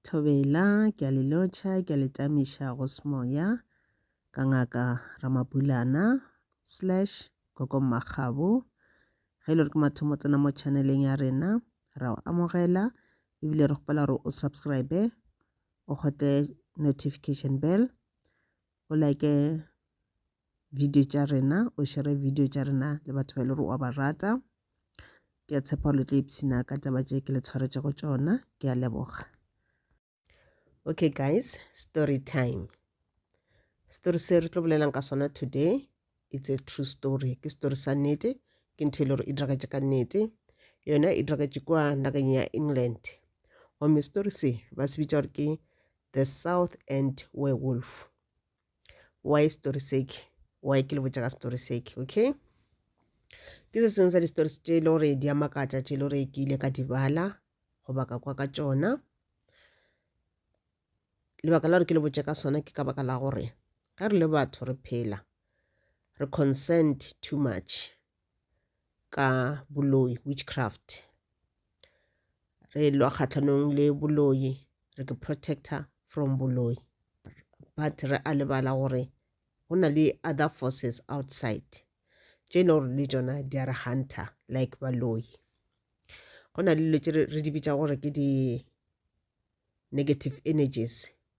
Thobela, ke a le lotšha, ke a le tamiša go semoya, ka ngaka Ramabulana, slash, Gogo Mmakgabo. Ge e le gore ke mathomo tsena mo channeleng ya rena, ra o amogela, ebile re kgopela gore o subscribe, o kgotle notification bell, o like video tša rena o šere video tša rena le batho ba e le gore wa ba rata ke a tshepa le tlo ipshina ka taba tše ke le tshwaretšego tšona ke a leboga okay guys story time story se re tlo bolelang ka sona today it's a true story ke story sa nnete ke ntho e le gore e diragatše ka nnete yona e diragatše kwa nageng ya england gomme story se ba se bitša gore ke the south end werewolf why story sake why ke le botša ka story sake okay ke se sengwe sa di-stories tše e le gore di a makatša tše e le gore ke ile ka di bala goba ka kwa ka tšona lebaka la gore ke le botše ka sona ke ka baka la gore ge re le batho re phela re consent too much ka boloi, witchcraft. Re lwa kgahlanong le boloi, re ke protector from boloi. But re a lebala gore go na le other forces outside tše e le gore le tšona di a re hunter like baloi. Go na le dilo tše re di bitša gore ke di-negative energies.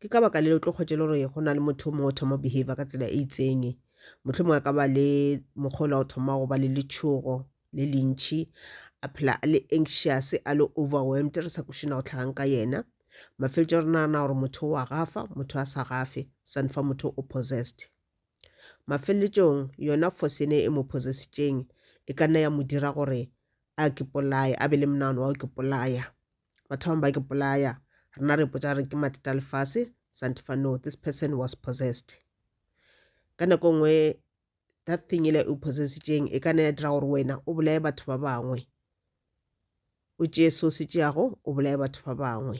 ke ka baka le o tlo kgwetše le gore go na le motho mongwe o thoma behavior ka tsela e itseng motlho mongwe a ka ba le mokgolo o thoma go ba le letšhogo le lentšhi a phela a le anxious a le overwhelmed re sa kušina go tlhagang ka yena mafeletšo re nagana gore motho wa gafa motho a sa gafe sane fa motho o possessed mafeletšong yona force ene e mo possessitšeng e ka nna ya mo dira gore a ke polaya a be le monagano wa ke polaya ba thoma ba ke polaya rena re potsa re ke mateta a lefase santefa no this person was possessed ka nako e nngwe that thing ele o possessitšeng e ka ne ya dira gore wena o bolaye batho ba bangwe o tšeye se o se tšeago o bolaye batho ba bangwe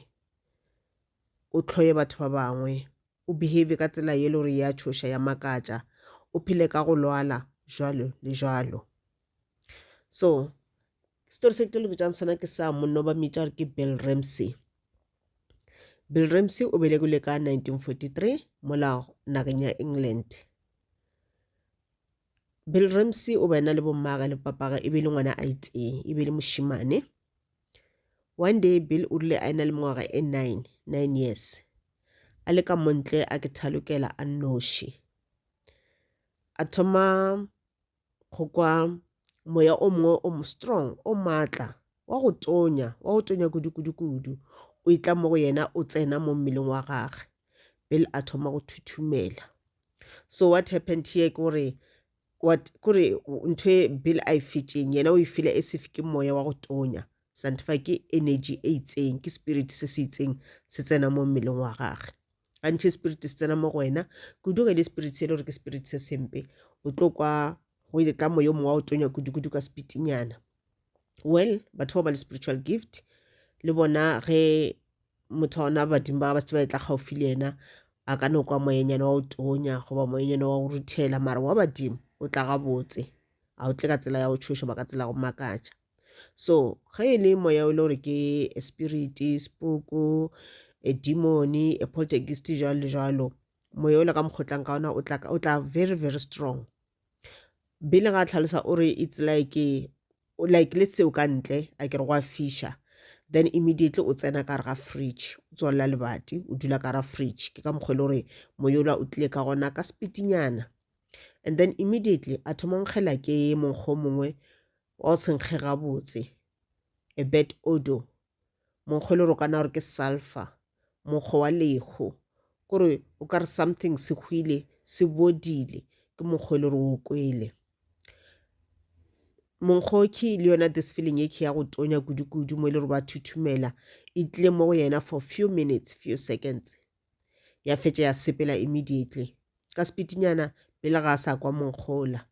o tlhoye batho ba bangwe o behave ka tsela ye le gore ya tshoša ya makatša o phele ka go lwala jwalo le jwalo so Story se ke lo botšang sona ke sa monna ba mmitša gore ke Bill Ramsey. Bill Ramsey o belegile ka 1943 mola nageng ya England. Bill Ramsey o bena le bommaga le papaga e be le ngwana a itee e be le mošimane. One day Bill o rile a ena le mengwaga e nine, nine years. A le ka montle a ke thalokela a nnoši. A thoma go kwa moya o mongwe o mo strong o maatla wa go tonya wa go tonya kudu-kudu-kudu o itla mo go yena o tsena mo mmeleng wa gage pele a thoma go thuthumela so what happened here ke gore what kore ntho e bill a e fetšeng yena o e fila e sefe ke moya wa go tonya santifa ke energy e itseng ke spirit se se itseng se tsena mo mmeleng wa gage gantši spirit se tsena mo go wena kudu ge le spirit se e le gore ke spirit se sempe o tlo kwa go ile ka moyo mongwe wa o tonya kudu-kudu ka spitinyana well batho ba ba le spiritual gift le bona ge motho wa ona badimo ba ba se ba etla gaufi le yena a ka no kwa moyenyana wa o tonya goba moyenyana wa o ruthela mara wa badimo o tla gabotse a o tle ka tsela ya go tshoša ba ka tsela go makatša so ge e le moya o le gore ke spirit sepoko a demon a poltergeist jalo jalo moya o le ka mokgotlang ka ona o tla very very strong bile ga tlhalosa o re it's like like le seo ka ntle a ke re go a fisha then immediately o tsena ka re ga fridge o tswalela lebati o dula ka ra fridge ke ka mokgwa e le gore moyola o tlile ka gona ka sepitinyana and then immediately a thoma nkgela ke monkgo mongwe Wa o se nkge gabotse. A bad odour. Monkgo e le gore o ka nagana gore ke sulphur. Monkgo wa lehu. Ke gore o ka re something se hwile, se bodile. Ke monkgo e le gore o o kwele. Monkgo ke le yona this feeling e ke ya go tonya kudu-kudu mo e le gore ba thuthumela. E tlile mo go yena for few minutes, few seconds. Ya fetša ya sepela immediately. Ka sepitinyana pele ga a sa kwa monkgo ola.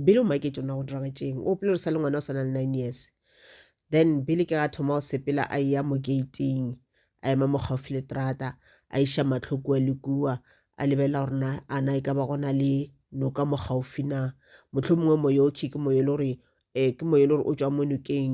bele o maketše o na go diragatšeng o pele o sa le ngwana o swana le nine years then bele ke ga thoma go sepela a eya mo gating a ema mo gaufi le trata a iša matlho kua le kua a lebelela gore na ana e ka ba gona le noka mo gaufi na motlho mongwe moyo o khe ke moyo le gore um ke moyo le gore o tswa mo nokeng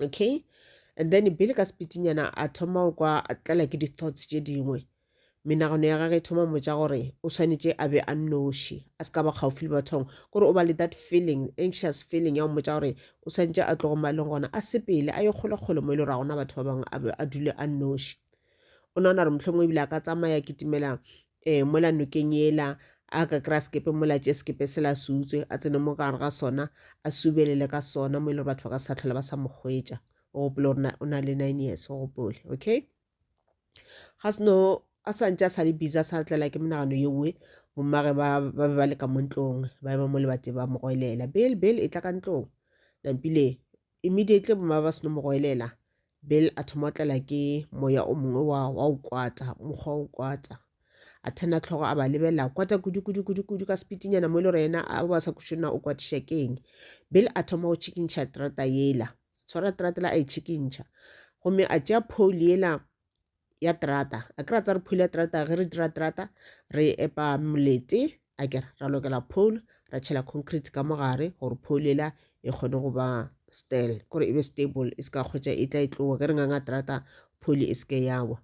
okay and then bele ka sepitinyana a thoma go kwa tlala ke di-thoughts tše dingwe menagano ya gage e thoma motsa gore o tshwanetse a be a nnoši a se ka ba kgaufile le bathong gore o ba le that feeling anxious feeling ya go motsa gore o tshwanetse a tlogo maleng gona a sepele a ye kgolekgole mo e le gore ga gona batho ba bangwe a dule a nnoši o nagana gore mohlomongwe ebile a ka tsamaya kitimela um mola nokeng ela a ka kry-a sekepe mola tše sekepe se la se utswe a tsene mo gare ga sona a subelele ka sona mo e le gore batho ba ka sa tlhola ba sa mo kgwetša o gopole gore o na le nine years o gopole okay ga seno a sa ntse a sa le busy a sa tlela ke menagano ye nngwe bommage ba be ba leka mo ntlong ba ema mo lebate ba mo goelela bel bel e tla ka ntlong nampile Immediately boma ba seno mo goelela, Bill a thoma o tlela ke moya o mongwe wa wa o kwata, mokgwa o kwata. A thena tlhogo a ba lebella, kwata kudu kudu kudu kudu ka spitinyana mo e le gore yena a ba sa kušona o kwatiša keng. Bill a thoma go tšhikintšha trata yela, tshwara tratela a e tšhikintšha. Gomme a tšea pholi yela ya terata a kry-a tsa re phule ya terata ge re dira terata re epa molete a kere ra lokela pole ra tšhela concrete ka mo gare gore pole ela e kgone go ba stel gore e be stable e se ka kgwetša e tla e tloa ge re nganga terata pole e se ke yawa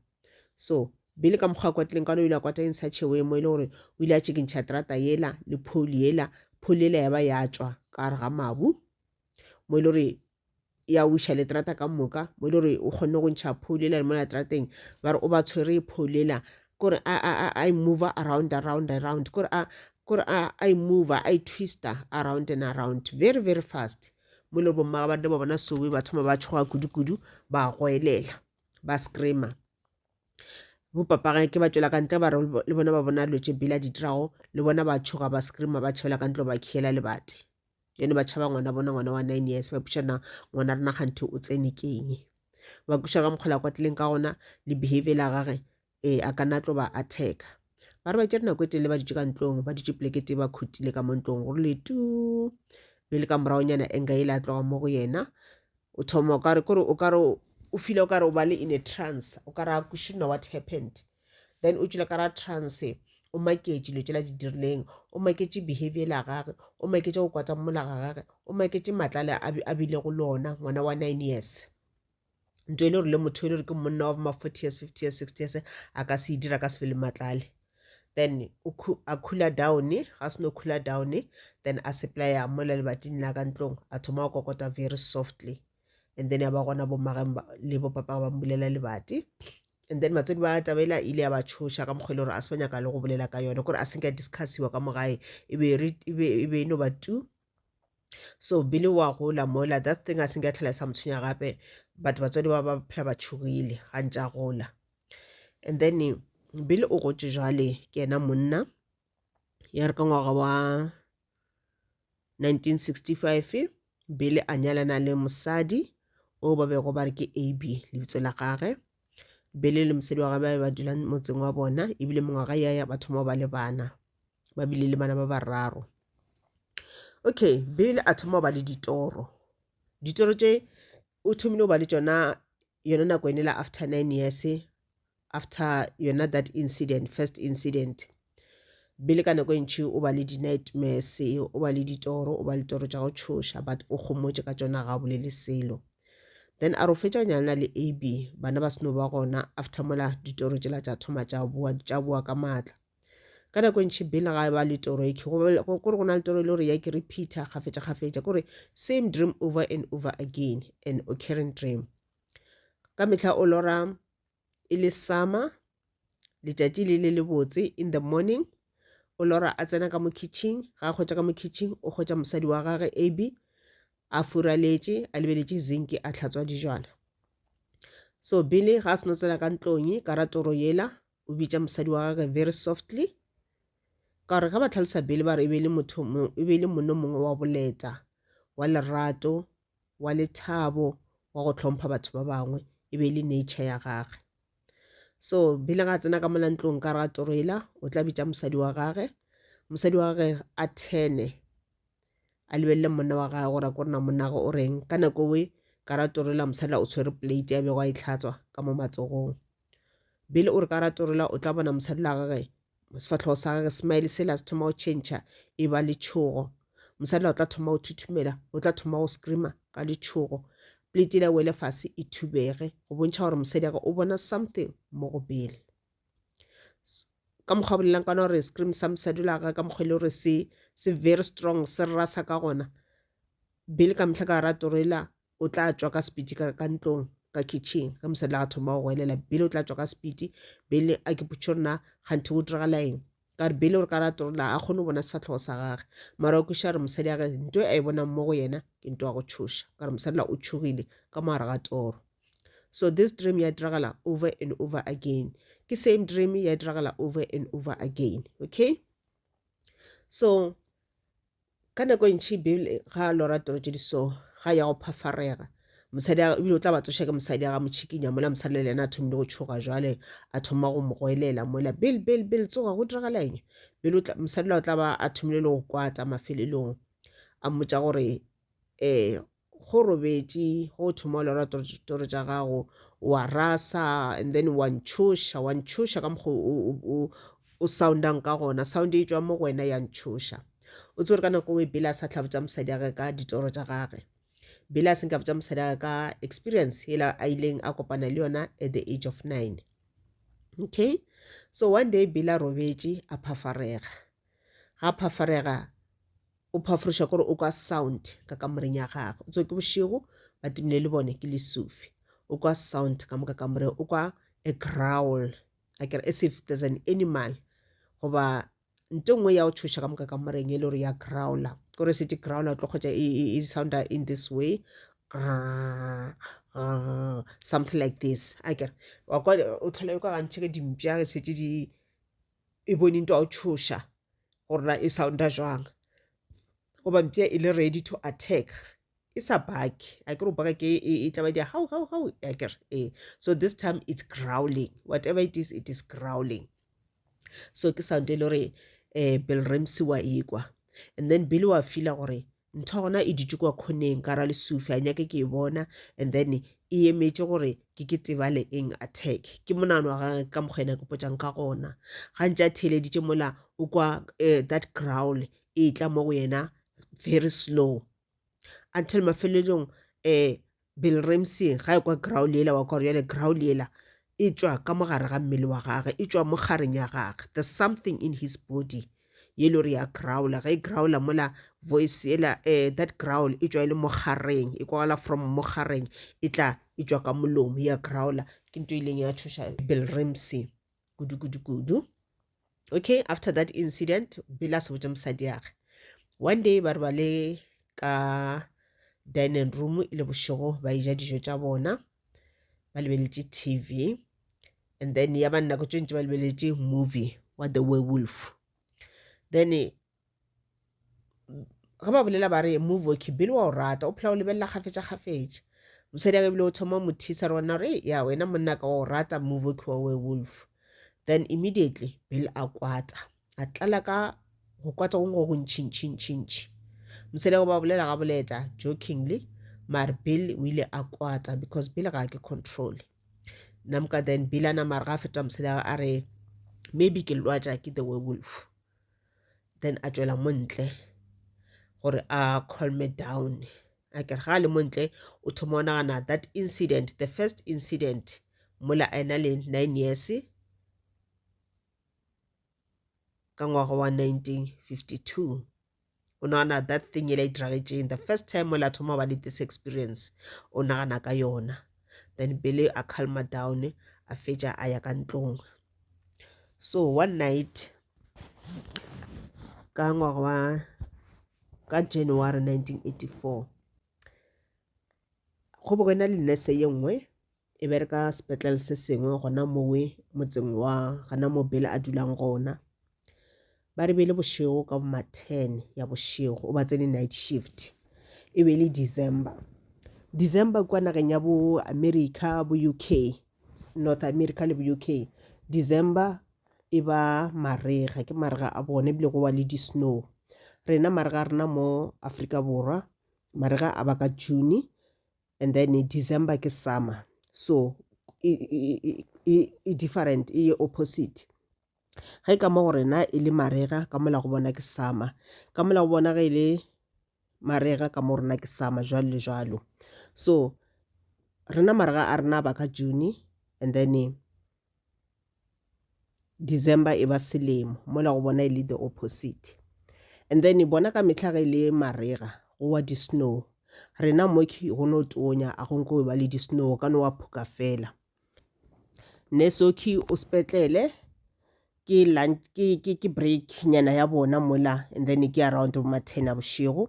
so bele ka mokgwa kwa tleng ka no ile a kwata eng sa chewe mo e le gore o ile a tšhekintšha terata yela le pole yela pole yela ya ba ya tswa ka gare ga mabu mo e le gore ya wiša leterata ka moka mo e le gore o kgonne go ntšha pholo ela le mo leterateng ba re o ba tshwere pholo ela kore a, a, a, a e mover around around around kore a kore a, a e mover a e twister around and around very very fast mo e le gore bommaga ba rena ba bona sowe ba thoma ba tšhoga kudu-kudu ba goelela ba screamer bo papaga ke ba tšwela ka ntle ba re le bona ba bona dilo tše bela di dirago le bona ba tšhoga ba screamer ba tšhabela ka ntle ba khiela lebati yone ba tšhaba ngwana bona ngwana wa nine years ba putša na ngwana rena kganthe o tsene keng ba kuša ka mokgola kwa tlileng ka gona le behavior la gage ee a ka na tlo ba attacka ba re ba tšere nako e telele ba ditše ka ntlong ba ditše plekete ba khutile ka mo ntlong gore le tu be le ka moragonyana enga e le a tloga mo go yena O thoma o ka re, kore o ka re o feel o ka re o ba le in a trance, o ka re a ko shouldn't know what happened. Then o tšwela ka ra trance, o maketše dilo tšela di dirileng, o maketše behavior ela gage, o maketše go kwata mmola ga gage, o maketše matla ale a a bilego le ona ngwana wa nine years. Nto e le gore le motho e le gore ke monna wa bo ma forty years, fifty years, sixty years a ka se e dira, a ka se be le matla ale. then a cooler down ga se no cooler down then a supplya mola lebating la ka ntlong a thoma go kokota very softly and then ya ba gona bommage le bopapa ba mbulela lebati and then batswadi ba tabela ile ya ba tshoša ka mokgwa e le gore a se ba nyaka le go bolela ka yone gore a se nka discussiwa ka mogae e be e no ba two so bile wa gola mola that thing a se nka tlhela sa motshwenya gape but batswadi ba ba phela ba tšhogile ga ntša gola and then bile o gotše jale ke ena monna ya re ka ngwaga wa 1965 bile a nyalana le mosadi o ba bego ba re ke ab lebitso la gage bile le mosadi wa gage ba be ba dula motseng wa bona ebile mengwaga ya ya batho mo ba le bana ba bile le bana ba bararo okay bele a thoma go ba le ditoro ditoro tše o thomile go ba le tšona yona nako ene la after nine years after yona that incident first incident bele ka nako e ntšhi o ba le di-nightmares o ba le ditoro o ba le toro tša go tšhoša but o kgomotše ka tšona ga o bolele selo then a re o fetša o nyalana le ab bana ba seno ba gona after mola ditoro tšela tša thoma tša boa tša boa ka maatla ka nako e ntšhi bill ga e ba le toro eke gore go na le toro e le gore ya ke repeater kgafetša kgafetša kore same dream over and over again an occurring dream ka mehla o lora e le summer letšatši le le lebotse in the morning o lora a tsena ka mo kitchen ga a kgwetša ka mo kitchen o kgwetša mosadi wa gage ab a furaletše a lebeletše zinki a tlhatswa dijwana so bile ga a seno tsena ka ntlong ka ra toro yela o bitša mosadi wa gage very softly ka gore ge ba tlhalosa bele ba re e be e le motho mo- e be e le mono mongwe wa boleta wa lerato wa lethabo wa go hlompha batho ba bangwe e be e le nature ya gage so bele ga a tsena ka mola ntlong ka re ga toroela o tla bitša mosadi wa gage mosadi wa gage a thene a lebelele monna wa gage gore a ko rena monna gage o reng ka nako e ka ra toroela mosadi la o tshwere plate ya bego a e tlhatswa ka mo matsogong Billy o re ka ratolela o tla bona mosadi la gage mo sefatlhogo sa gage smile se la se thoma go tšhentšha e ba letšhogo mosadi la o tla thoma go thuthumela o tla thoma go screama ka letšhogo plate le wele fase e thubege go bontšha gore mosadi age o bona something mo go Billy ka mokgwa bolelang kana gore scream sa mosadi la gage ka mokgwa e le gore se se very strong se rasa ka gona Billy ka mehla ka ratolela o tla tšwa ka sepiti ka ka ntlong ka kitchen ge mosadi la thoma go goelela bele o tla tšwa ka sepiti bele a ke putšo nna ganthe go diragala eng ka re bele o re ka ratorola a kgone go bona sefatlhogo sa gage mara o kweša re mosadi age nto a e bonang mo go yena ke nto ya go tšhoša ka re mosadi la o tšhogile ka mo gare ga toro so this dream ya diragala over and over again ke same dream ya diragala over and over again okay so Ka nako e ntši Beibele ga a lora toro tše di so ga ya go phafarega mosadi ebile o tla ba tsoša ke mosadi a ga mo tšhikinya mola mosadi le lena a thomile go tšhoga jwale a thoma go mo goelela mola bel bel bel tsoga go diragalaeng bel mosadi la o tla ba a thomile le go kwata mafelelong a mmotsa gore um go robetše go o thoma o lora toro tša gago wa rasa and then wa ntšhoša wa ntšhoša ka mokgo o soundang ka gona sound e tswa mo go wena ya ntšhoša o tsere ka nako e bela sa tlhabotsa mosadi ya ge ka ditoro tša gage bela a senka botsa mosadi ya ka experience e la a ileng a kopana le yona at the age of nine okay so one day bela robetše a phafarega ga phafarega O phaforeša kore o kwa sound ka kamoreng ya gagwe. O tsoe ke bošego, ba timile le bone, ke lesufi. O kwa sound ka moka kamoreng, o kwa a growl, akere as if there's an animal goba nto nngwe ya go tšhoša ka moka kamoreng e le gore ya growler. Kore e šetše growler o tlo kgwetša e, e, e sounda in this way, grrrr, grrrr, something like this, akere. Wa kwa o tlhola e kwa gantši ge dimpša e šetše di, e bone ntwa o tšhoša gore na e sounda jwang goba mpša e le ready to attack e sa baki a ke re baka ke e, e tla ba di how how how a ke re ee so this time it's growling whatever it is it is growling so ke sound e le gore um bill ramsey wa ekwa and then bill wa fila gore ntho gona e dutše kwa khoneng ka ra lesufi a nyake ke e bona and then e emetše gore ke ke tebale eng attack ke monano wa gage ka mokgwa ena ke potšang ka gona ga ntse a theeleditše mola o kwa uh, that growl e tla mo go yena very slow until mafelelong um Bill Ramsey ga ekwa growl yela wa kwa gore yale growl yela e tšwa ka mogare ga mmele wa gage, e tšwa mo kgareng ya gage, there's something in his body ye le gore ya growla, ge e growla mola voice yela eh, that growl e tšwa e le mo kgareng, e kwagala from mo kgareng e tla e tšwa ka molomo ya growla. Ke nto e ileng ya tšhoša Bill Ramsey kudu kudu kudu. okay after that incident bile a se botse mosadiage one day ba re ba le ka dining room e le bošego ba eja dijo tša bona ba lebeletše tv and then ya ba nako tše ntse ba lebeletše movie wa the werewolf then ge ba bolela ba re move okay bile wa o rata o phela o lebelela kgafetša kgafetša mosadi aka ebile o thoma mo thisa rona gore ya wena monna ka wa o rata move okay wa werewolf then immediately bile a kwata a tlala ka go kwata gongwe go go ntšhintšhintšhintšhi mosadi go ba bolela ga boleta jokingly mare bile o ile a kwata because bile ga ke control namka then bile a namare ga a feta mosadi a re maybe ke lwatša ke the werewolf then a tšwela mo ntle gore a calm me down a kere ga a le mo ntle o thoma o nagana that incident the first incident mola a ena le nine years ka ngwaga wa 1952 o nagana that thing ele e diragetšeng the first time ole a thoma ba le this experience o nagana ka yona then pele a calma down a fetša a ya ka ntlong so one night ka ngwaga wa ka january 1984 go bo go ena le nurse ye nngwe e bereka sepetlele se sengwe gona mowe motseng wa gana mo bele a dulang gona ba re bele bošego ka bo ma-ten ya bošego o ba tsene night shift e be e le december december kwa nageng ya bo america bo u k north america le bo u k december e ba marega ke marega a bone ebile go wa le di-snow rena marega a rena mo aforika borwa marega a ba ka june and then december ke summer so e, e, e, e, e different e opposite ge ka mo go rena e le marega ka mola go bona ke summer ka mola go bona ge e le marega ka mo rena ke summer jwalo le jwalo so rena marega a rena ba ka june and then December e ba selemo mola go bona e le the opposite and then e bona ka mehla ge e le marega go wa di-snow rena mo go no tonya a go nko ba le di-snow ka no wa phuka fela nesoki o sepetlele ke lunch ke ke ke break nyana ya bona mola and then ke around bo ma ten a bošego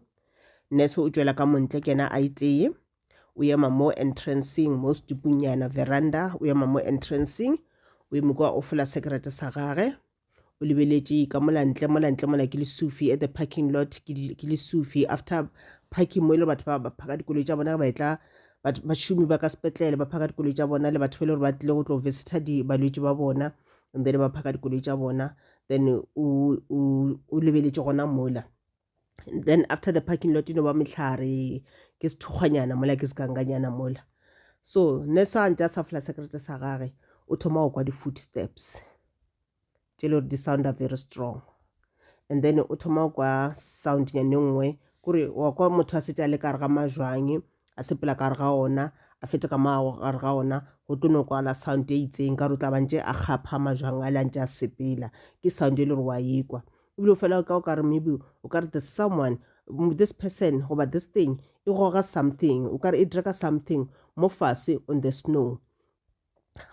nurse o tšwela ka montle kena a iteye o ema mo entranceng mo setupunyana veranda o ema mo entranceng o eme kwa o fola sekerete sa gage o lebeletše ka molantle molantle mola ke lesufi at the parking lot ke lesufi after parking mo e le batho ba ba phaka dikoloi tša bona ba etla bašomi ba ka sepetlele ba phaka dikoloi tša bona le batho ba e le gore ba tlile go tlo visita balwetši ba bona and then ba phaka dikoloi tša bona then o lebeletše gona mola then after the parking lot e no ba mehlare ke sethokgwanyana mola ke sekanganyana mola so ne sa ntse a sa fola sekerete sa gage o thoma go kwa di-footsteps tše le gore di sounda very strong and then o thoma go kwa sound nyane nngwe kore wa kwa motho a setse a le kare ga majwang a sepela kare ga ona a fete ka mago gare ga ona go tlo no kwala sound e itseng ka re o tla bantše a kgapha majwang a le a ntse a sepela ke sound e le gore wa ekwa ebile o fela ka o ka re maybe o ka re the someone this person goba this thing e goga something o ka re e draka something mo fase on the snow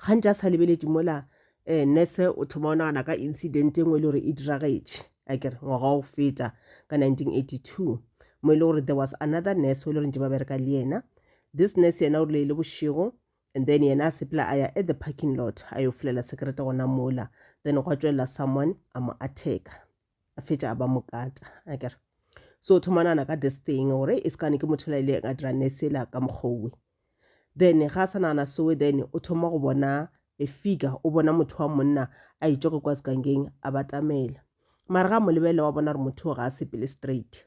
gantši a sa lebeletše mola um nurse o thoma o nagana ka incident e nngwe e le gore e diragetše a kere ngwaga wa go feta ka 1982 mo e le gore there was another nurse o e le gore ntse ba bereka le yena this nurse yena o rile e le bošego And then yena a sepela a ya at the parking lot a yo folela sekerete gona mola then gwa tšwelela someone a mo attacka a fetša a ba mokata a kere so o thoma nana ka this thing gore e sekane ke motho la ile a dira nesela ka mokgowe then ga a sa nagana soe then o thoma go bona a figure o bona motho wa monna a itšwa ke kwa sekangeng a batamela mara ga mo lebelela wa bona gore motho o ga a sepele straight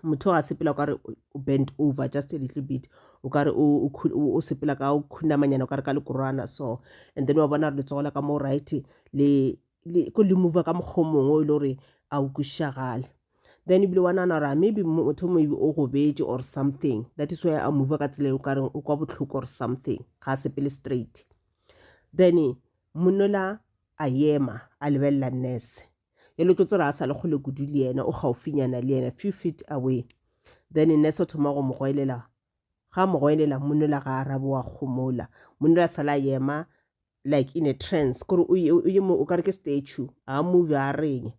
motho ga sepela o kare o bent over just a little bit o kare o sepela ka o khunamanyana o kare ka lekorwana so and then wa bona re letsogo la ka mo right le ko le move ka mokgwa mongwe e le gore a o kwišagale then ebile wa nana gore maybe motho maybe o gobetse or something that is why a move ka tsela e o kareng o kwa botlhoko or something ga a sepele straight then monola a yema a lebelela nurse yalo ke tsora a sa le kgole kudu le yena o gaufinyana le yena few feet away then nurse o thoma go mo goelela ga mo goelela monola ga arabe wa kgomola monola sala yema like in a trance kore o kare ke statue a move a reng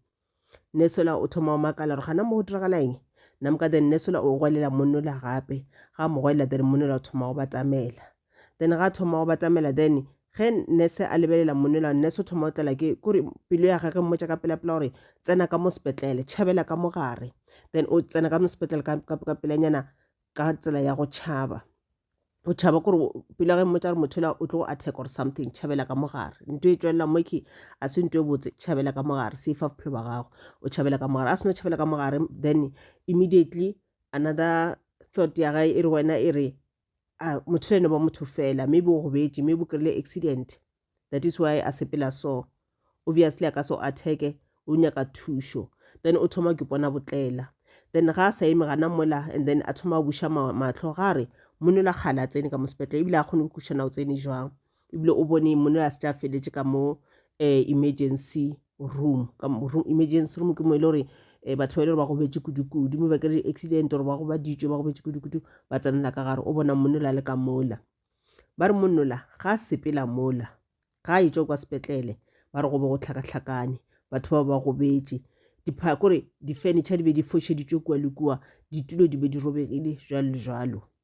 nesola o thoma o makala gore gana mo go diragala eng namka then nesola o goelela monola gape ga mo goelela then monola o thoma go batamela then ga thoma go batamela then ge nurse a lebelela monela nurse o thoma o tlela ke kore pelo ya gage mmotša ka pelapela gore tsena ka mo sepetlele tšhabela ka mogare then o tsena ka mo sepetlele ka pelanyana ka tsela ya go tšhaba o tšhaba kore pelo ya ge mmotša gore motho ela o tlo go attack or something tšhabela ka mogare nto e tswelela moke a se nto e botse tšhabela ka mogare se fa bophelo ba gago o tšhabela ka mogare a seno tšhabela ka mogare then immediately another thought ya gae e re wena e re a motho le ene ba motho fela maybe o gobetše maybe o kry-ile accident that is why a sepela so obviously a ka so atheke o nyaka thušo then o thoma ke pona botlela then ga a sa eme gana mola and then a thoma a buša matlho ga re mone la kgale a tsene ka mo sepetlele ebile a kgone go kušana o tsene jwang ebile o bone monna a se tša feletše ka mo um emergency room ka room emergency room ke mo e le gore um batho ba e le gore ba gobetše kudu-kudu mme ba kere di-accident gore ba gobaditšwe ba gobetše kudu-kudu ba tsenela ka gare o bona monnola le ka mola ba re monnola ga a sepela mola ga a etswa kwa sepetlele ba re go be go tlhakatlhakane batho ba ba gobetše kore di-furniture di be di fošeditšwe kua le kua ditulo di be di robegile jalo le jalo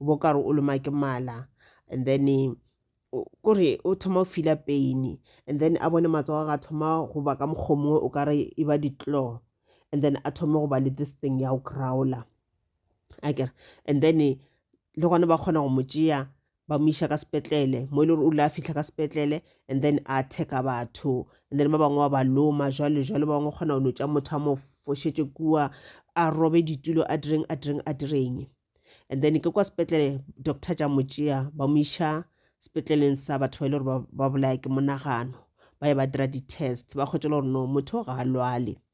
o bo kare o loma ke mala and then kore o thoma o fila pain and then a bone matsogo ga thoma go ba ka mokgwa mongwe o kare e ba di-claw and then a thome go ba le this thing ya go crowler akere and then le gone ba kgona go mo tšea ba mo iša ka sepetlele mo e le gore o ile a fitlha ka sepetlele and then a attack-a batho and then ba bangwe ba ba loma jwale jwale ba bangwe kgona go no tša motho a mo fošetše kua a robe ditulo a direng a direng a direng and then ke kwa sepetlele doctor tša mo tšea ba mo iša sepetleleng sa batho ba e le gore ba bolaya ke monagano ba ye ba dira di-test ba kgwetše le gore no motho ga a lwale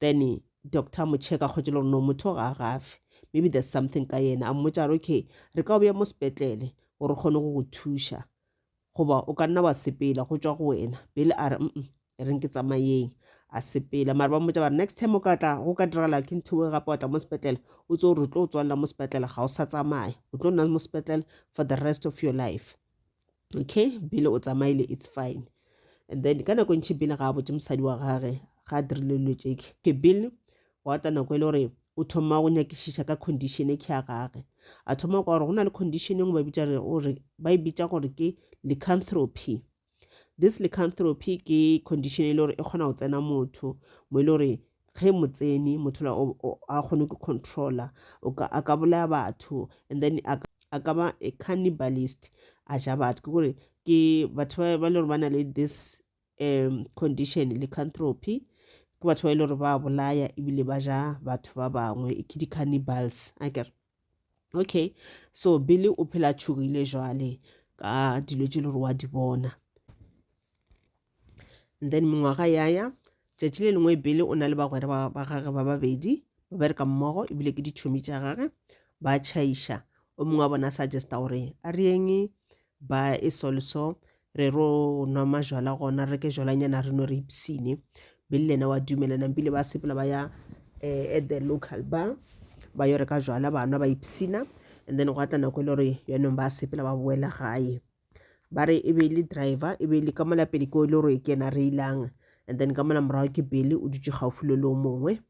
Then doctor a mo checka kgotse le gore no motho ga a gafe maybe there's something ka yena a mmotsa re okay re ka o beya mo sepetlele gore o kgone go go thuša goba o ka nna wa sepela go tswa go wena bele a re mm e reng ke tsamayeng a sepela mare ba mmotsa ba re next time o ka tla go ka diragala ke ntho e gape wa tla mo sepetlele o tse gore o tlo o tswalela mo sepetlele ga o sa tsamaya o tlo nna mo sepetlele for the rest of your life okay bile o tsamaile it's fine and then ka nako ntšhi bile ga a botse mosadi wa gage ga a dirile dilo tše ke bile wa ta nako e le gore o thoma go nyakišiša ka condition e ke ya gage a thoma kwa gore go na le condition engwe ba bitsa gore ba e bitsa gore ke lycanthropy this lycanthropy ke condition e le gore e kgona go tsena motho mo e le gore ge mo tsene motho la a kgone go controller o ka a ka bolaya batho and then a a ka ba a cannibalist a ja batho ke gore ke batho ba ba le gore ba na le this um condition le cantropy ke batho ba e le gore ba bolaya ebile ba ja batho ba bangwe ke di-cannibals a kere okay so billy o phela tšhogile jwale ka dilo tše le gore wa di bona and then mengwaga yaya tšatši le lengwe billy o na le bagwera ba gage ba babedi ba bereka mmogo ebile ke ditšhomi tša gage ba tšhaiša o mongwe wa bona suggesta gore a reyeng ba e solso re ro nwa majwala gona re ke jwalanyana re no re ipsine bile lena wa dumela nampile ba sepela ba ya eh, at the local bar ba yo reka jwala ba nwa ba ipsina and then gwa tla nako e le gore yanong ba sepela ba boela gae ba re e be le driver e be le ka mola pele ko e le gore ke ena re ilang and then ka mola morago ke bele o dutse gaufi le le o mongwe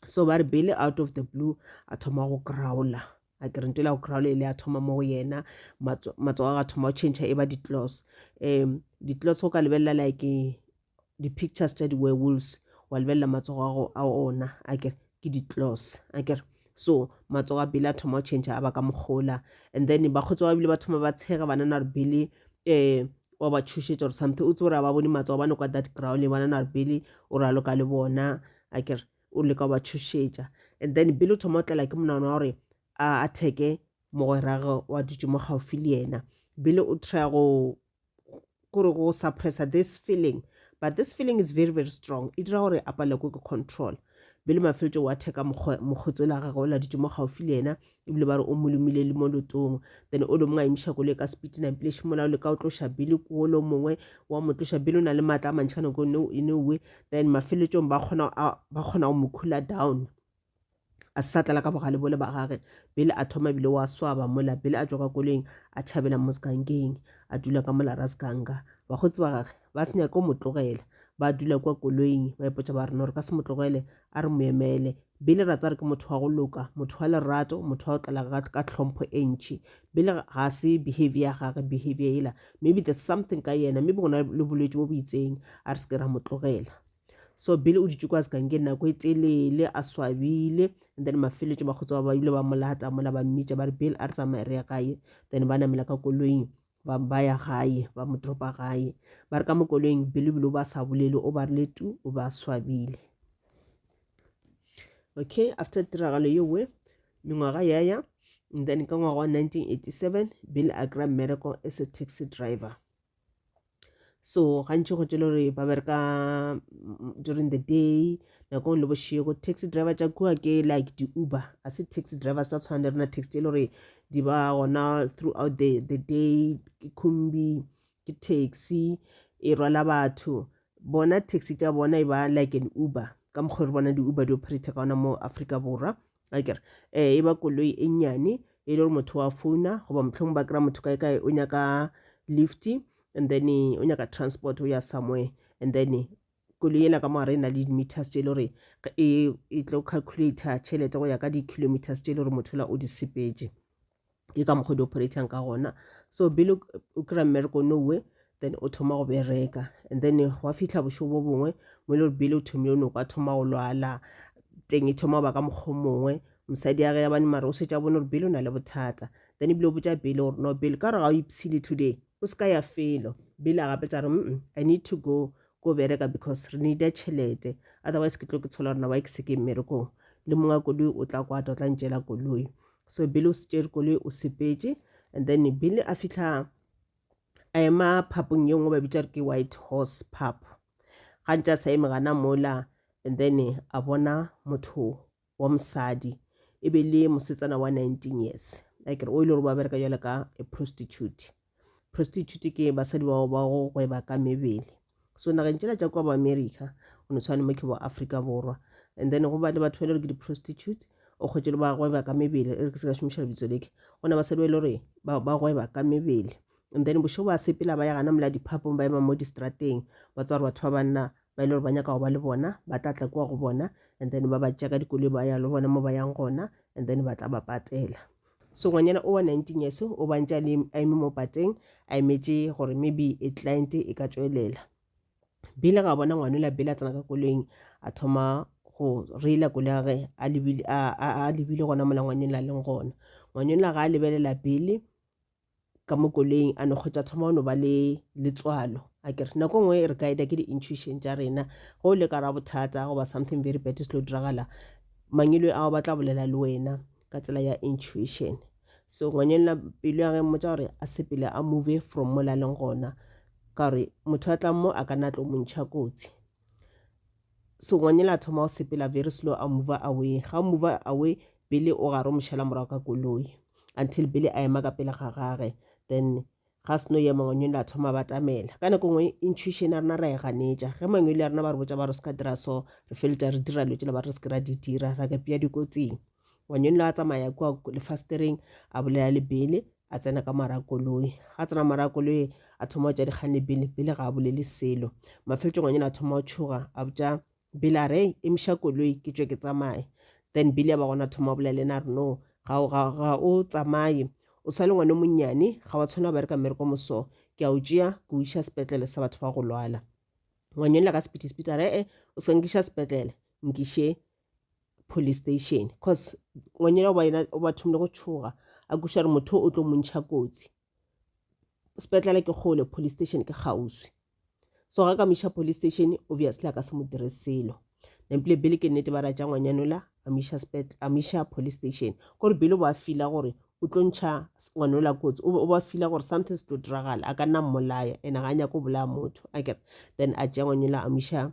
so ba re bele out of the blue a thoma go crowla a ke re nto la go kry-a le le a thoma mo go yena matsogo a ga thoma go change e ba di-clos um di-clos go ka lebelela like di-pictures tša di-werewolves wa lebelela matsogo ago a ona a kere ke di-clos a kere so matsogo a bile a thoma go change a ba ka mokgola and then ba kgotsi ba bile ba thoma ba tshega banana re bile um wa ba tshošetša gore something o tse gore a ba bone matsogo ba nokwa that ground banana re bile o raloka le bona a kere o leka go ba tšhošetša and then bile o thoma o tlela ke monana wa gore a atheke mogwerage wa dutse mo gaufi le yena bile o try go kore go suppressa this feeling but this feeling is very very strong e dira gore a palelwe ke control bile mafeletso wa theka mokgotsi o la gagwe o la dutse mo gaufi le yena ebile ba re o mo lomile le mo lotong then o lo mongwe a imiša kolo ka speed na mpile šimola o leka o tloša bele ko lo mongwe wa mo tloša bele o na le maatla a mantšhi ka nako no e nowe then mafeletsong ba kgona ba kgona go mo khula down a sa tlala ka bogale bole ba gage bele a thoma bile wa swaba mola bele a tswa ka koleng a tšhabela mo sekangkeng a dula ka mola ra sekanga bagotsi ba gage ba se nyake o mo tlogela ba dula kwa koloing ba ipotsa ba rena gore ka se mo tlogele A re mo emele. Billy ra tsare ke motho wa go loka, motho wa lerato, motho wa go tlela ka, ka tlhompho e ntši. Billy ga se behavior ya gage, behavior yela. Maybe there's something ka yena, maybe go na le bolwetši bo bo itseng, a re se ke ra mo tlogela. So Billy o dutše kwa sekankeng nako e telele, a swabile, and then mafeletšo bakgotsi ba ba bile ba mo lata mola, ba mmitša ba re, Bill, a re tsamaye re ye gae. Then ba namela ka koloing. ba ba ya gae ba mo dropa gae ba re ka mo koloing bilibili o ba sa bolele o ba rile tu o ba swabile okay after tiragalo ye we mengwaga ya ya and then ka ngwaga wa 1987 bill a kry mmereko as a taxi driver so gantši go tšele gore ba bereka mm, during the day nako le bošego taxi driver tša kua ke like di-uber a se taxi drivers tsa tshwana le rena taxi tše e le gore di ba gona throughout the, the day ke khumbi ke taxi e rwala batho bona taxi tša bona e ba like an uber ka mokgwa re bona di-uber di operate ka ona mo africa borwa a kere um e ba koloi e nnyane e le gore motho wa founa goba mohlomong ba kry-a motho kae kae o nyaka lift and then o nyaka transport o ya somewhere and then koloi ela ka mogare e na le di-meters tse e le gore e, e tlo calculator tšhelete go ya ka di-kilometers tse e le gore motho la o di sepetše ke ka mokgwa di operatang ka gona so bile o kry-a mmereko no way then o thoma go bereka and then wa fitlha bošo bo bongwe mo e le gore bile o thomile o ne o ka thoma go lwala teng e thoma ba ka mokgwa mongwe mosadi ya ge ya bane mare o setša bone gore bile o na le bothata then ebile o botša bile gore no bile ka gore ga o ipsile today o se ka ya felo bile a gape tša re mm i need to go go bereka because re needa tšhelete otherwise ke tlo ke tshola gore na wa e ke se ke mmerekong le mongwe wa koloi o tla kwata o tla ntšela koloi so bile o se tšere koloi o sepetše and then bile a fitlha a ema phapong ye nngwe ba bitša re ke white horse pap ga ntša sa eme gana mola and then a bona motho wa mosadi e be le mosetsana wa 19 years like o ile gore ba bereka jale ka a prostitute prostitute ke basadi bao ba go gweba ka mebele so nageng tšela tša kwa bo america o no tshwane mo ke bo africa borwa and then go ba le batho ba e le gore ke di-prostitute o kgwetse le ba gweba ka mebele e re ke se ka šomiša lebitso leke go na basadi ba e le gore ba gweba ka mebele and then bošo ba sepela ba ya gana mola diphapong ba ema mo distrateng ba tswa gore batho ba banna ba e le gore ba nyaka go ba le bona ba tla tla kwa go bona and then ba ba tšea ka dikoloi ba ya le bona mo ba yang gona and then ba tla ba patela Sengwenyana o wa 19 years o bantša Lim a eme mo pateng a emetše gore maybe e client e ka tšwelela. Billy ga bona ngwanola Billy a tsena ka koloing a thoma go reila koloi ya gage a lebile, a, a, a lebile gona mola ngwanola a leng gona. Ngwanola ga a lebelela Billy ka mo koleing a no kgotsa thoma o no ba le letswalo a kere nako nngwe re ka eda ke di-intuition tša rena go le ka ra bothata goba something very bad se tlo diragala mangelo ao ba tla bolela le wena ka tsela ya intuition so ngwanyelela pelo ya ge mmotsa gore a sepele a move from mo la leng gona ka gore motho a tlang mo a ka na tlo mo ntšha kotsi Sengwanyela a thoma go sepela very slow a mover away. Ga o mover away, Billy o gare o mo šala morago ka koloi until Billy a ema ka pele ga gage. Then ga seno ya mangwanyole a thoma batamela ka nako ngwe intuition ya rena ra e ganetša ge mangwele ya rena ba re botša ba re se ka dira so re feletša re dira dilo tsela ba re se ke ra di dira ra ka pea dikotsing ngwaneno a tsamaya kua lefastereng a bolela le bele a tsena ka mara koloi ga tsena mara koloi a thoma go tša dikgane bele bele ga a bolele selo mafeletso ngwaneno a thoma go tšhoga a botša bele a re emiša koloi ke tšwe ke tsamaye then bele ya ba gona thoma go bolela le ena re no ga o tsamaye o sa le ngwane monnyane ga wa tshwana bereka mmereko moso ke a o tšea ke o iša sepetlele sa batho ba go lwala ngwanyolela ka sepiti sepiti a re e o se nkiša sepetlele nkiše police station cause ngwanyana oba yena o ba thomile go tšhoga a kuša re motho o tlo montšha kotsi sepetlele ke kgole police station ke kgauswi so ga ka moiša police station obviously a ka se mo dire selo nampile bele ke nnete ba ra tša ngwanyanola a moiša police station gore bele o ba fila gore o tlo ntšha ngwanola kotsi o ba fila gore something se tlo diragala a ka nna mmolaya and ga a nyako bolaya motho a kere then a tšea ngwanyanola a moiša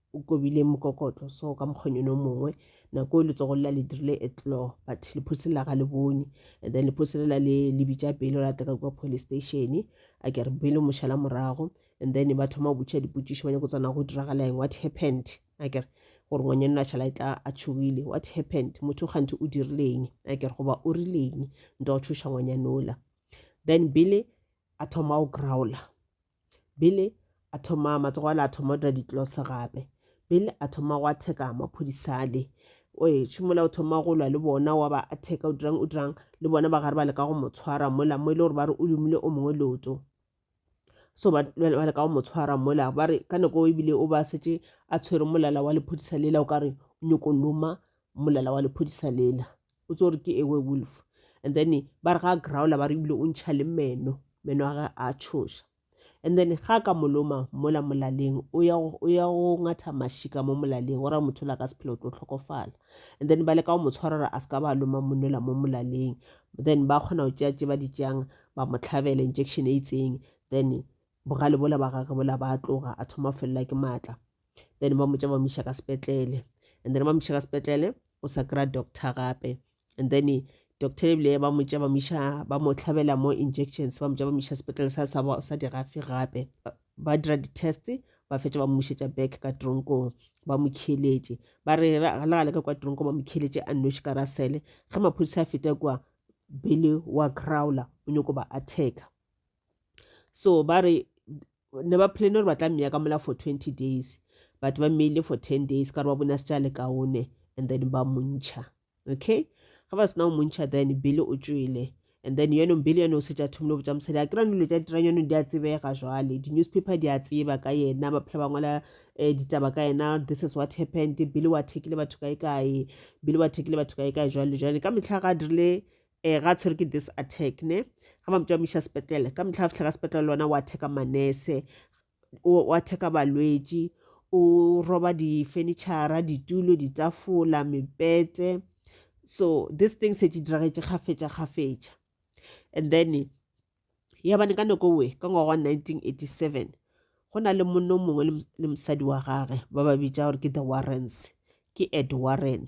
O kobile mokokotlo so ka mokgonyone o mongwe, nako e letsogo lela le dirile a tlo, but lephosi lela ga le bone. And then lephosi lela le, le bitša Billy gore a tle ka kua police station. A kere Billy o mo šala morago, and then ba thoma go botšiša dipotšišo, ba nyako tsena go diragala eng, what happened, a kere. Gore ngwanyana o a šala etla a tšhogile, what happened, motho kganthe o dirile eng, a kere, goba o rile eng, nto go tšhoša ngwanyana ola. Then Billy a thoma go growler. Billy a thoma matsogo a le a thoma o dira ditlose gape Billy a thoma go atheka maphodisa a le oe šomola o thoma go lwa le bona wa ba atheka o dirang o dirang le bona ba gare ba leka go mo tshwara mola mo e le gore ba re o lumile o mongwe leoto so ba leka go mo tshwara mola ba re ka nako ebile o ba setse a tshwere molala wa lephodisa lela o ka re nyoko loma mmolela wa lephodisa lela o tse gore ke ewe wolf and then ba re ga a growla ba re ebile o ntšha le meno meno a ge a tshoša and then ga ka moloma mola molaleng o ya go ngatha mašika mo molaleng o ra motho la ka sephelo o tlo tlhokofala and then ba le ka go mo tshwara gore a se ka ba loma monola mo molaleng then ba kgona go tšea tše ba di tšeang ba mo tlhabela injection e itseng then Bogale bola ba gage bola ba tloga a thoma felela ke matla then ba motša ba mo iša ka sepetlele and then ba mo iša ka sepetlele o sa kry-a doctor gape and then doctor ebile ba motša ba mo iša ba mo tlhabela mo injections ba motša ba mo iša sepetlele sa sa sa dirafe gape ba dira di-test ba fetša ba mmušetša back ka tronkong ba mo kheletše ba re le gale ka kwa tronkong ba mo kheletše a nnoši ka rasele ge maphodisa a feta kua bele wa crowler o nyako ba attacka so ba re ne ba plan gore ba tla mmeya ka mola for twenty days but ba mmeile for ten days ka gore ba bone a se tša le kaone and then ba montšha okay ga ba sena go montšha then bele o tšwele and then yaanong bele yone o setša thomile botša mosadi a kry dilo tša dirang yaanong di a tsebega jwale di-newspaper di a tseba ka yena ba phela ba ngwala um ditaba ka yena this is what happened bele wa thekile batho kae kae bele wa thekile batho kae kae jwale jwale ka metlha ga a dirile eh ga tshwere ke this attack ne ga ba motšwa miša sepetlele ka metlha a fitlha ka sepetlele lona wa theka manese wa theka balwetši o roba difenitšhara ditulo ditafola mepete so this thing se tše diragetše kgafetša kgafetša and then ya bane ka nako we ka ngwaga wa 1987 go na le monno mongwe le mosadi wa gage ba ba bitša gore ke the warrens ke ed warren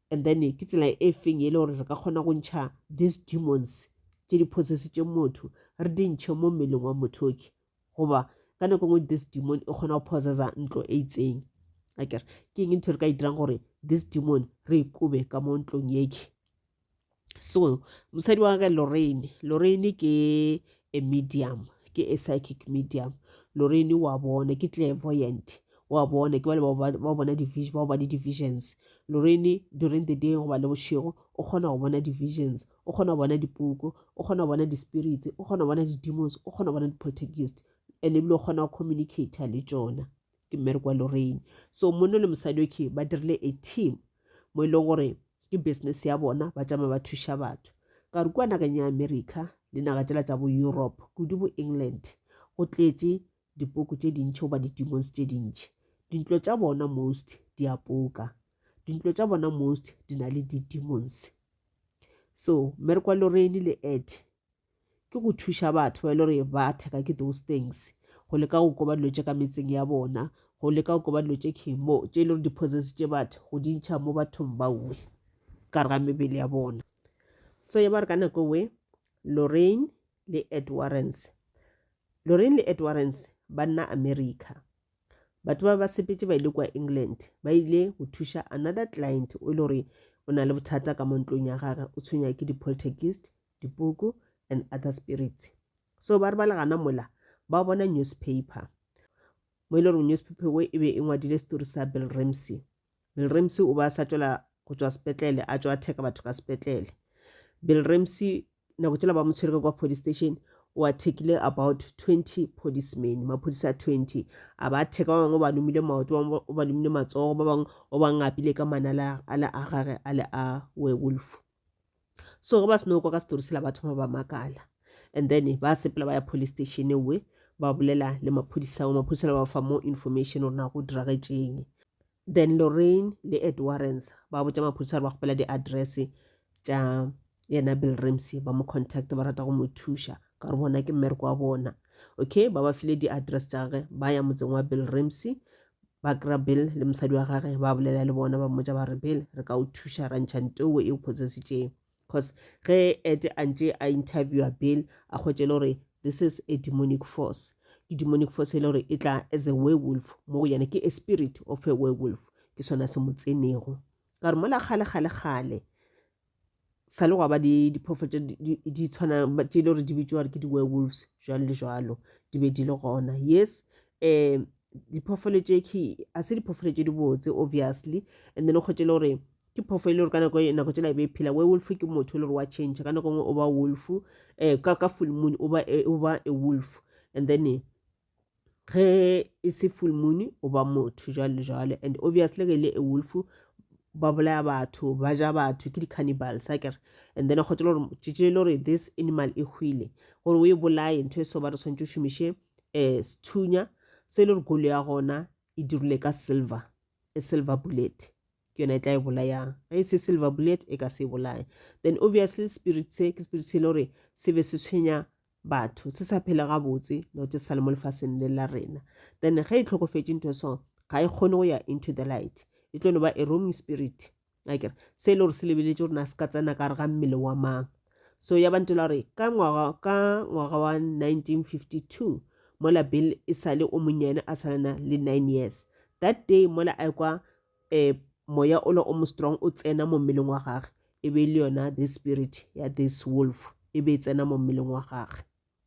And then ke tsela e feng e le gore re ka kgona go ntšha these demons tše di possessitšeng motho re di ntšhe mo mmeleng wa motho oke goba ka nako ngwe this demon e kgona go possessa ntlo e itseng akere ke eng ntho re ka e dirang gore this demon re e kobe ka mo ntlong eke so mosadi wa ka lorraine lorraine ke a medium ke a psychic medium lorraine wa bona ke clairvoyant wa bona ke bale ba bona division ba bona divisions lorraine during the day goba le bošego o kgona go bona divisions o kgona go bona dipuku o kgona go bona di-spirits o kgona go bona di-demons o kgona go bona di-protagist and ebile o kgona go communicator le tšona ke mmereko wa lorraine so monna le mosadi okay ba dirile a team mo e leng gore ke business ya bona ba tšama ba thuša batho ka re kua nakeng ya america le naga tšela tša bo europe kudu bo england go tletše dipoko tše dintšhi goba di-demons tše dintšhi dintlo tša bona most di a poka dintlo tša bona most di na le di-demons so mmereko wa lorraine le ed ke go thuša batho ba e le gore ba theka ke those things go leka go koba dilo tše ka metseng ya bona go leka go koba dilo tše khimo tše e le gore di tše batho go di ntšha mo bathong ba uwe ka re ga mebele ya bona so ya ba re ka nako we lorrain le ed warrens lorrain le ed warrens ba nna america batho ba ba sepetse ba ile kwa england ba ile go thuša another client o e le gore o na le bothata ka mo ntlong ya gage o tshwenya ke di-poltergist dipuku and other spirits so ba re ba le gana mola ba bona newspaper mo e le gore newspaper wo e be e ngwadile story sa bill ramsey bill ramsey o ba sa tswela go tswa sepetlele a tswa atheka batho ka sepetlele bill ramsey nako tsela ba mo tshwere ka kwa police station o athekile about 20 policemen maphodisa a 20 a ba atheka ba bangwe ba lomile maoto o ba lomile matsogo ba bangwe o ba ngapile ka manala a le a gage a le a werewolf so ge ba seno kwa ka setori sela ba thoma ba makala and then ba sepela ba ya police station we ba bolela le maphodisa go maphodisa le ba fa more information gore na go diragetšeng then lorraine le ed warrens ba botša maphodisa gore ba kgopela di-address tša yena bill ramsey ba mo contact ba rata go mo thuša ka gore bona ke mmereko wa bona okay ba ba file di-address tša gage ba ya motseng wa bill ramsey ba kry-a bill le mosadi wa gage ba bolela le bona ba mmotsa ba re bill re ka o thuša ra ntšha nto e o potsesitšeng because ge ete a ntše a interviewa bill a kgwetše le gore this is a demonic force ke demonic force e le gore e tla as a werewolf mo go yena ke a spirit of a werewolf ke sona se mo tsenego ka gore mola kgale kgale kgale sa le gwa ba diphofo tše di tshwana tše e le gore di bitšwa gore ke di-werewolves jalo le jalo di be di le gona yes um diphoofolo tše ke a se diphoofolo tše di botse obviously and then o kgwetse le gore ke phofo e le gore ka nako nako tsela e be e phela werewolf ke motho e le gore wa change ka nako nngwe o ba wolf um ka ka full moon o ba e, o ba a wolf and then ge e se full moon o ba motho jwale le jwale and obviously ge e le a wolf ba bolaya batho ba ja batho ke di-cannibals a kere and then kgotse le gore tšetše e le gore this animal e hwile gore o e bolaye ntho e so ba re tshwanetse o šomiše um sethunya se e le gore kolo ya gona e dirile ka silver a silver bullet ke yona e tla e bolayang ge e se silver bullet e ka se e bolaye then obviously spirit se ke spirit se e le gore se be se tshwenya batho se sa phele gabotse note se sa le mo lefaseng le la rena then ge e tlhokofetse ntho so ga e kgone go ya into the light e tlo no ba a roaming spirit akere se e le gore se lebeletse gore na se ka tsena ka re ga mmele wa mang so ya bantho la gore ka ngwaga ka ngwaga wa 1952 mola bill e sale o monyane a salana le nine years that day mola a kwa um moya ola o mo strong o tsena mo mmeleng wa gage e be e le yona this spirit ya this wolf e be e tsena mo mmeleng wa gage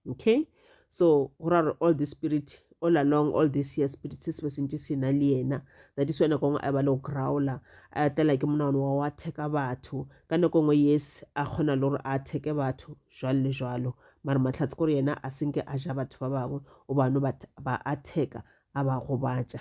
okay so go ra gore all the spirit all along all this year spirit se se be sentse se na le yena that is wena kongwe a ba le go growla a tlela ke monagano wa go atheka batho ka nako nngwe yes a kgona le gore a atheke batho jwalo le jwalo mare matlhatse kore yena a senke a ja batho ba bangwe o bano ba atheka a ba gobatša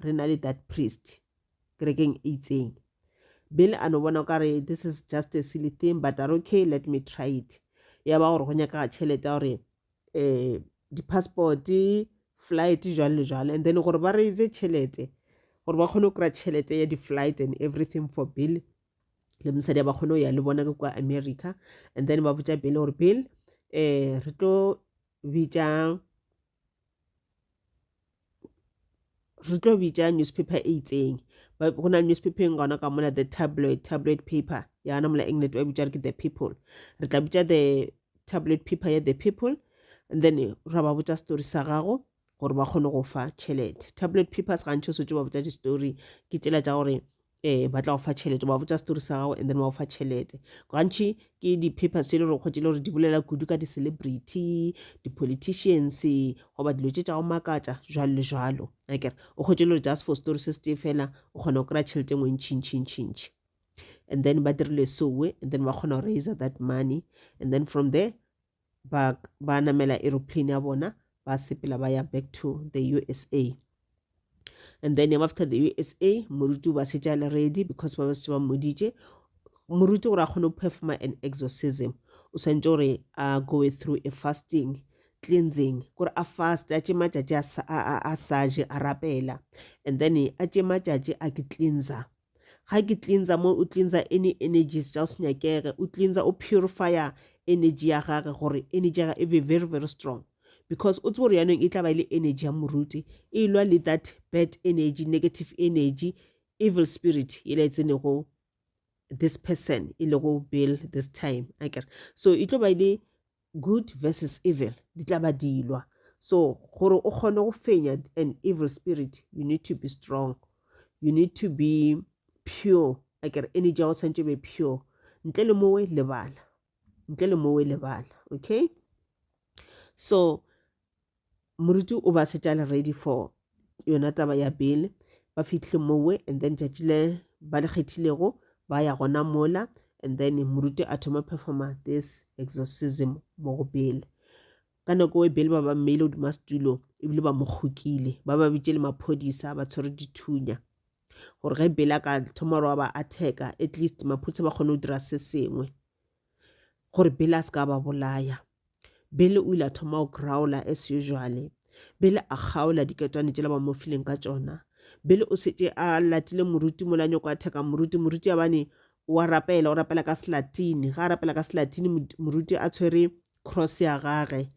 re na le that priest kerekeng e itseng bele a no bona o ka re this is just a silly thing but are okay let me try it ya ba gore go nyakaga tšhelete ya gore um di-passport flight jalo le jalo and then gore ba raise tšhelete gore ba kgone go kry-a tšhelete ya di-flight and everything for bill le mosadi a ba kgone go ya le bona ke kwa america and then ba botša bill gore bill um re tlo bitša re tlo bitša newspaper e itseng go na newspaper eng gona ka mola the tabloid tabloid paper yana mola england ba bitša re ke the people re tla bitša the tabloid paper ya the people and then ra ba botša story sa gago gore ba kgone go fa tšhelete tabloid papers gantši o swetse ba botša di-story ke tsela tša gore eh ba tla go fa tšhelete ba botša story sa gago and then ba go fa tšhelete gantši ke di-papers tše le gore kgotse le gore di bolela kudu ka di-celebrity di-politicians goba dilo tše tša go makatša jalo le jalo akere o kgwetse le gore just for story se se tee fela o kgona go kry-a tšhelete engwe ntšhintšhintšhintšhi and then ba dirile soe and then ba kgona go raiser that money and then from there ba ba namela aeroplane ya bona ba sepela ba ya back to the usa and then after the usa moruti o ba šetše a le ready because ba ba šetše ba mmoditše moruti gore a kgone go performa an exorcism o swantse gore a go through a fasting cleansing gore a fast a tše matšatši a sa je a rapela and then a tše matšatši a ke cleanser ga ke cleansa mo o cleansa any energies tša o se nyakege o cleansa o purifier energy ya gage gore energy ya gage e be very very strong because o tsebo gore yanong e tla ba e le energy ya moruti e lwa le that bad energy negative energy evil spirit e la e tsenego this person e lego bill this time akere so e tlo ba e le Good versus evil di tla ba dilwa. So gore o kgone go fenya an evil spirit, you need to be strong. You need to be pure. A ke re energy ya go tshwanetse be pure. Ntle le mowe lebala. Ntle le mowe lebala. Okay? So moruti o ba setša le ready for yona taba ya bail ba fihle mowe and then tšatši le ba le kgethilego ba ya gona mola and then moruti a thoma performa this exorcism mo go bail ka nako e bail ba ba mmeile godima setulo ebile ba mo kgokile ba ba bitše le maphodisa ba tshwere dithunya gore ge bail a ka thoma gore wa ba attack at least maphodisa ba kgone go dira se sengwe gore Billy a se ka ba bolaya. Billy o ile a thoma go growla as usually. Billy a kgaola diketwane tšela ba mo fileng ka tšona. Billy o šetše a latile moruti mola nyoko a theka moruti. Moruti a bane wa rapela, o rapela ka selatini. Ga a rapela ka selatini, moruti a tshwere cross ya gage.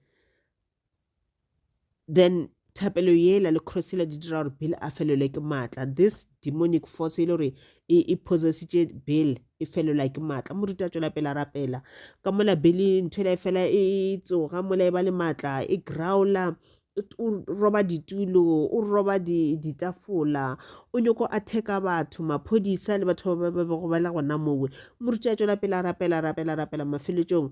then thapelo yela le cross yela di dira gore bill a felelwe ke maatla this demonic force e le gore e, e possessitše bill e felelwa ke maatla moruti a tšwela pela rapela ka mola bill ntho ela e fela e, e tsoga mola e ba le maatla e growla o roba ditulo o roba ditafola o nyoko a theka batho maphodisa le batho ba ba bego ba le gona mowe moruti a tšwela pela rapela rapela rapela mafeletsong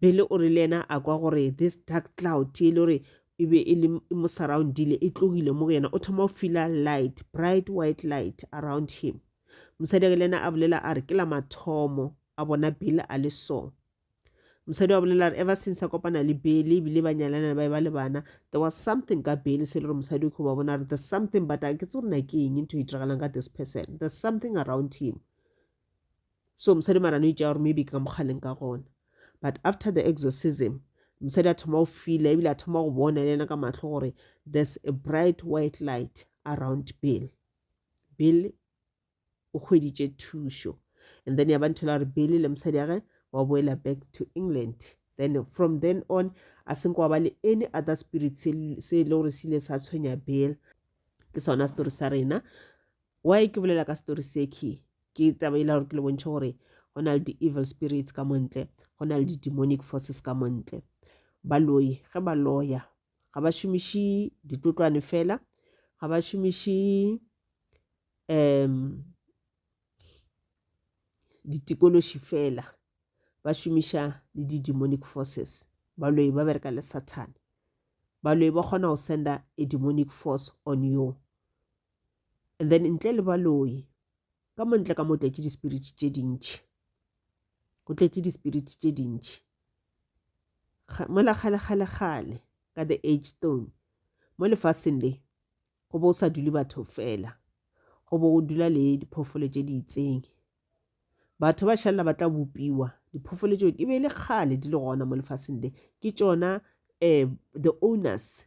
Billy o re le yena a kwa gore this dark cloud ye e le gore e be e le e mo surroundile e tlogile mo go yena o thoma o fila light bright white light around him mosadi ake le yena a bolela a re ke la mathomo a bona bill a le so mosadi wa bolela re ever since a kopana le bele ebile ba nyalana ba e ba le bana there was something ka bele se e le gore mosadi o kgo ba bona re there's something but a ke tse gore na ke eng ntho e diragalang ka this person there's something around him so mosadi mara no itšea gore maybe ke ka mokgaleng ka gona but after the exorcism mosadi a thoma go fila ebile a thoma go bona le ena ka matlho gore there's a bright white light around bill bill o hweditše thušo and then ya ba ntho la gore bill le mosadi age wa boela back to england then from then on a senko wa ba le any other spirit se e le gore se ile sa tshwenya bill ke sona story sa rena Why ke bolela ka story se key ke taba e la gore ke le bontšhe gore go na le di-evil spirits ka montle go na le di-demonic forces ka montle baloi ge ba loya ga ba šomiše ditlotlwane fela ga ba šomiše um ditikološi fela ba šomiša le di-demonic forces baloi ba bereka le sathane baloi ba kgona go senda a demonic force on you and then ntle le baloi ka mo ntle ka mo tletše di-spirit tše dintšhi go tletše di-spirit tše dintšhi mola kgale-kgale-kgale ka the age stone mo lefaseng le go bo o sa dule batho fela go bo go dula le diphoofolo tše di itseng batho ba šalela ba tla bopiwa diphoofolo tšeo e be e le kgale di le gona mo lefaseng le ke tšona um the owners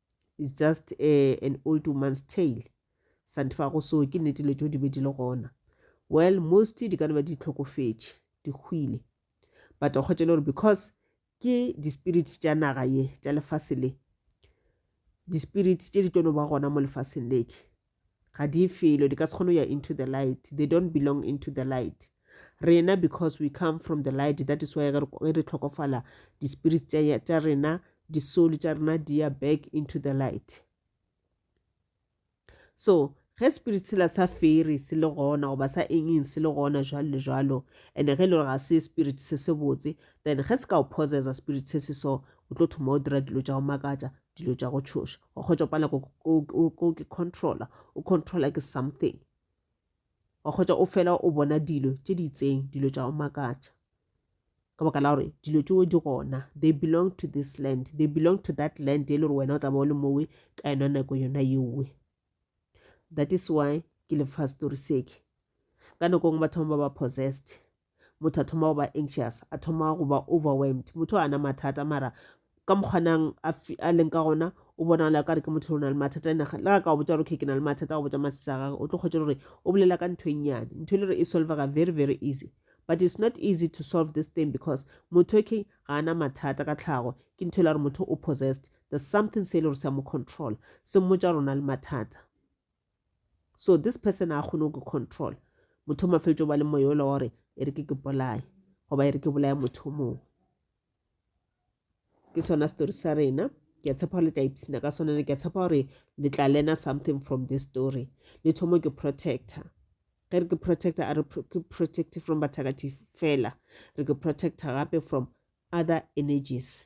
is just a, an old woman's tale santifago so ke nnete le tso di be di le gona well most di ka ba di tlhokofetše di hwile but o kgotse le gore because ke di-spirits tša naga ye tša lefase le di-spirits tše di tlono ba gona mo lefaseng leke ga di felo di ka se kgone ya into the light they don't belong into the light rena because we come from the light that is why ge re tlhokofala di-spirit tša rena di-soul tša rena di ya back into the light so ge spirit sela sa fere se le gona goba sa engeng se le gona jalo le jalo and-e ge e le gore ga se spirit se se botse then ge se ka o possessa spirit se se so o tlo thoma o dira dilo tša go makatša dilo tša go tshoša wa kgotsa pala ko ke controller o controller ke something wa kgotsa o fela o bona dilo tše di itseng dilo tša o makatša ka baka la gore dilo tšeo di gona they belong to this land they belong to that land e le gore wena o tla ba o le mowe ka yona nako yona yeowe that is why ke le fa story seke ka nako ngwe ba thoma ba ba possessed motho a thoma go ba anxious a thoma go ba overwhelmed motho a na mathata mara ka mokgwanang a leng ka gona o bonagala ka re ke motho o na le mathata ene le ga ka o botsa gore okay ke na le mathata go botsa mathata a gagwe o tlo kgwetsa gore o bolela ka ntho e nnyane ntho e le gore e solvega very very easy but it's not easy to solve this thing because motho ke ga ana mathata ka tlhago ke ntho e le gore motho o possessed there's something se e le gore se a mo control se mmotsa rona le mathata So this person a kgone go control motho o mafeletšo ba le moya ola wa gore e re ke ke bolaye goba e re ke bolaya motho o mongwe ke sona story sa rena ke a tshepa gore le tla ipsina ka sone ke a tshepa gore le tla learna something from this story le thomo ke protector ge re ke protector a re ke protective from bathakati fela re ke protector gape from other energies